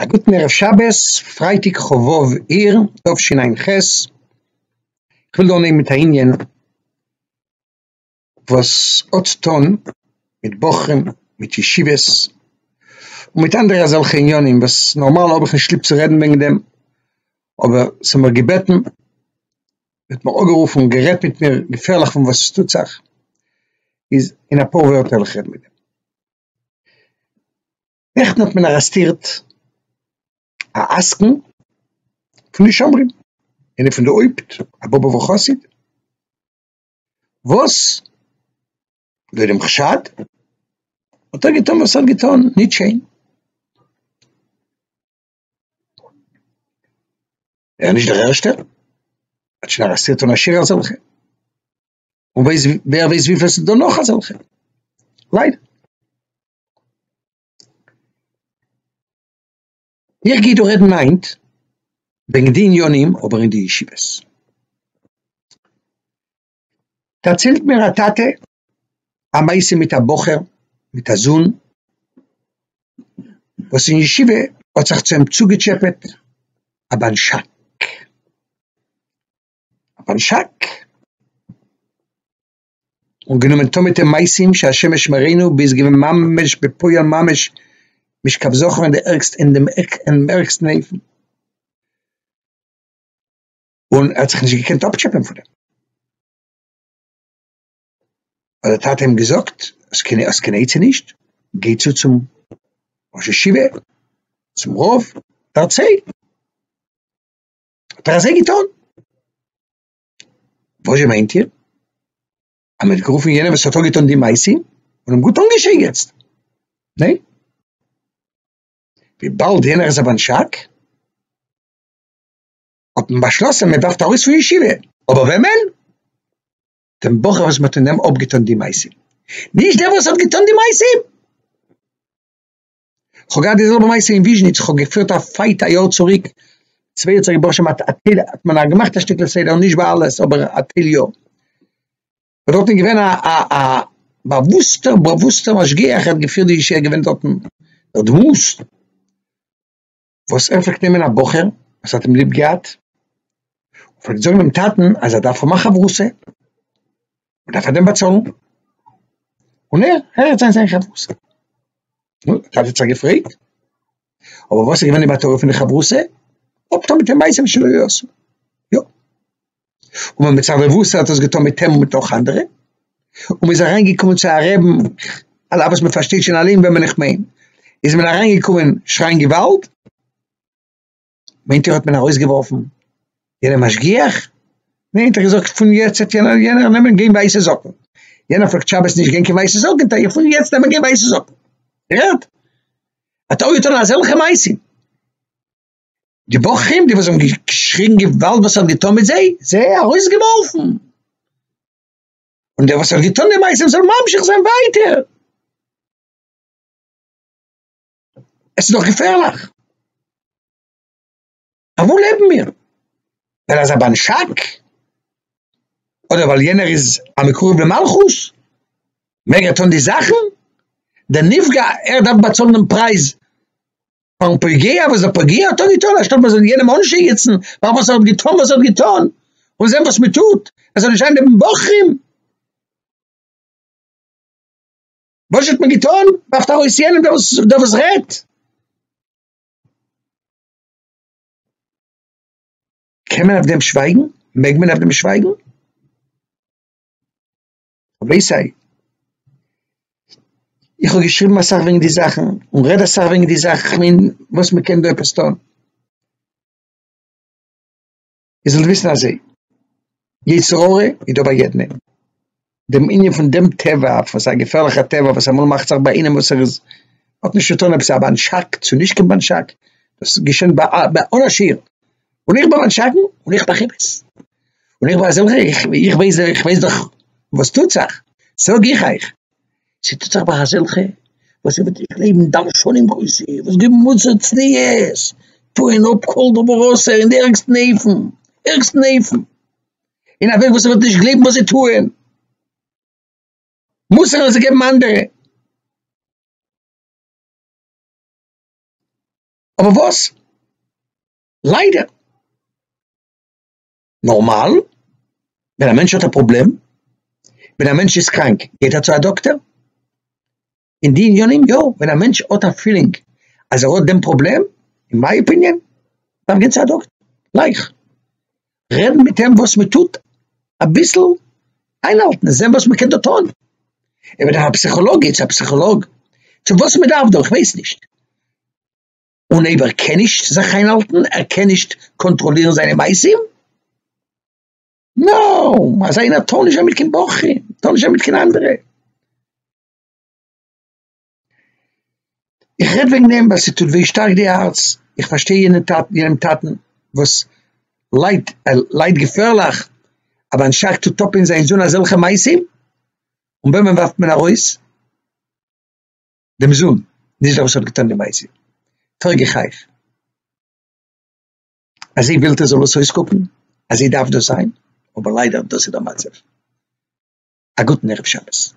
א גוטן ערב שבת, פרייטאג כ ו אייר תשע"ח, כ'וויל דא אנהייבן מיט א ענין וואס האט צו טון מיט בחורים, מיט ישיבות, און מיט אנדערע אזעלכע ענינים וואס נארמאל האב איך נישט ליב צו רעדן וועגן דעם, אבער ס'האט מיר געבעטן, מ'האט מיר אנגערופן און גערעדט מיט מיר געפערליך פון וואס עס טוט זיך, איז אין אפאר ווערטער וועל איך רעדן מיט דעם. נעכטן האט מען ארעסטירט א עסקן פון די שומרים, איינער פון די הויפט א באבובער חסיד, וואס לויט דעם חשד האט ער געטון וואס ער האט געטון, נישט שיין, ער איז נישט דער ערשטער, מען האט שוין ארעסטירט אן א שיעור אזעלכע. און ווייס ווער ווייס וויפיל ס'דא נאך אזעלכע. ליידער. איך גיי דא רעדן היינט וועגן די עניינים אבער אין די ישיבות. דערציילט מיר א טאטע א מעשה מיט א בחור מיט א זון וואס אין ישיבה האט זיך צו אים צוגעטשעפעט א בנשק. אויף אן שאק, און גענומען טון מיט אים מעשים שהשם ישמרינו ביז געווען ממש בפועל ממש משכב זכור אין די ערגסטע אין דעם ערגסטן אופן, און ער האט זיך נישט געקענט אפטשעפען פון דעם, האט דער טאטע אים געזאגט, האסט קיין האסט קיין עצה נישט? גיי צו צום ראש ישיבה, צום רב, דערצייל. האט ער אזוי געטון? וואזשע מיינט איר? אז מען האט גערופן יענעם וואס האט אנגעטון די מעשה און אים גוט אנגעשייגעצט, ניין? וויבאלד יענער איז א בנשק, האט מען באשלאסן מען ווארפט ארויס פון ישיבה, אבער וועמען? דעם בחור וואס מען האט אינעם אפגעטון די מעשה, נישט דער וואס האט געטון די מעשה! כ'האב געהאט די זעלבע מעשה אין וויזשניץ, כ'האב געפירט א פייט א יאר צוריק, צוויי האט זיך געבראכן מיט א טייל, האט מען א געמאכט א שטיקל סדר, נישט ביי אלעס אבער א טייל יא, און דארטן איז געווען א א א באוואוסטע באוואוסטע משגיח, ער האט געפירט די ישיבה, ער איז געווען דארטן דער דמות. וואס ער פלעגט נעמען א בחור וואס האט אים ליב געהאט, און פלעגט זאגן דעם טאטן אז ער דארף האבן א חברותא, מען דארף פאר דעם באצאלן, און ער הערט זיין זיין חברותא. נו, דער טאטע האט זיך געפרעגט, אבער וואס איז געווען די מטרה פון די חברותא? אפטון מיט אים מעשים שלא יעשו. יא. און ווען מצד רבותא האט עס געטון מיט אים און מיט נאך אנדערע, און מ'איז אריין געקומען צו א רעבן, על אף וואס מ'פארשטייט שוין אלעם וועמען איך מיין, איז מען אריין געקומען שרייען געוואלד, מיינט איר האט מען ארויס געווארפן יענעם משגיח? ניין האט ער געזאגט פון יעצט וועט יענער יענער נעמען גיין ווייסע זאקן, יענער פלעגט שבת נישט גיין קיין ווייסע זאקן טאר איך פון יעצט נעמען גיין ווייסע זאקן, איר הערט? האט ער אויך געטון אזעלכע מעשים. די בחורים, די וואס האבן געשריגן געוואלד וואס ער האט געטון מיט זיי, זיי ארויסגעווארפן. און דער וואס האט געטון די מעשים זאל ממשיך זיין ווייטער. עס איז דאך געפערליך. אויף וואו לעבן מיר? ווייל ער איז א בנשק? אדער ווייל יענער איז א מקורב למלכות? מעג ער טון די זאכן? דער נפגע, ער דארף באצאלן דעם פרייז פארן פוגע וואס דער פוגע האט דאן געטון אנשטאט מען זאל יענעם אנשייגעצן פאר וואס ער האט געטון וואס ער האט געטון און זען וואס מען טוט ער זאל נישט זיין נעבן בחורים וואס האט מען געטון ווארפט ארויס יענעם דער וואס דער וואס רעדט קען מען אויף דעם שווייגן? מעג מען אויף דעם שווייגן? רבי סיי, איך האב געשריבן אסאך וועגן די זאכן, און רעד אסאך וועגן די זאכן, איך מיין וואס מען קען דא עפעס טון. איר זאלט וויסן אזוי, יצר הרע איז דא ביי יעדן איינעם. דעם ענין פון דעם טבע, פון זיין געפערליכע טבע וואס אמאל מאכט זיך ביי איינעם וואס ער איז, האט נישט צו טון אויב ס'איז א באנטשאק צו נישט קיין באנטשאק, דאס געשענט ביי אן עשיר, און איך בין אן שקרן און איך מאך אמת, און איך בין א זעלכער, איך ווייס איך ווייס דאך וואס טוט זיך, זאג איך אייך, ס'טוט זיך ביי אזעלכע וואס זיי וועט איך גלייבן דרשנים גרויסע, וואס געבן מוסר צניעות, טוען אפ כל דבר אסור אין די ערגסטן אופן, ערגסטן אופן, אין א וועג וואס מ'וועט נישט גלייבן וואס זיי טוען, מוסר וואס זיי געבן אנדערע. אבער וואס? ליידער. נארמאל ווען א מענטש האט א פראבלעם, ווען א מענטש איז קראנק גייט ער צו א דאקטער, אין די עניינים יא, ווען א מענטש האט א פילינג אז ער האט דעם פראבלעם, אין מיי אפיניען דארף גיין צו א דאקטער, גלייך. רעדן מיט אים וואס מען טוט, אביסל איינהאלטן און זען וואס מען קען דא טון, אויב ער דארף א פסיכאלאג גיט צו א פסיכאלאג, צו וואס מען דארף דא איך ווייס נישט, און אויב ער קען נישט זיך איינהאלטן, ער קען נישט קאנטראלירן זיינע מעשים, נאו, אזא איינער טאר נישט זיין מיט קיין בחור, טאר נישט זיין מיט קיין אנדערע. איך רעד וועגן דעם ווייל ס'טוט וויי שטארק די הארץ, איך פארשטיי יענע טאטן, יענעם טאטן וואס ליידט, ער ליידט געפערליך, אבער אנשטאט צו טאפען זיין זון אזעלכע מעשים, און וועמען ווארפט מען ארויס? דעם זון, נישט דער וואס האט געטון די מעשים, פרעג איך אייך, אזוי ווילט איר זאל עס אויסקוקן? אזוי דארף דאס זיין? אבער ליידער דאס איז דער מצב, א גוטן ערב שבת.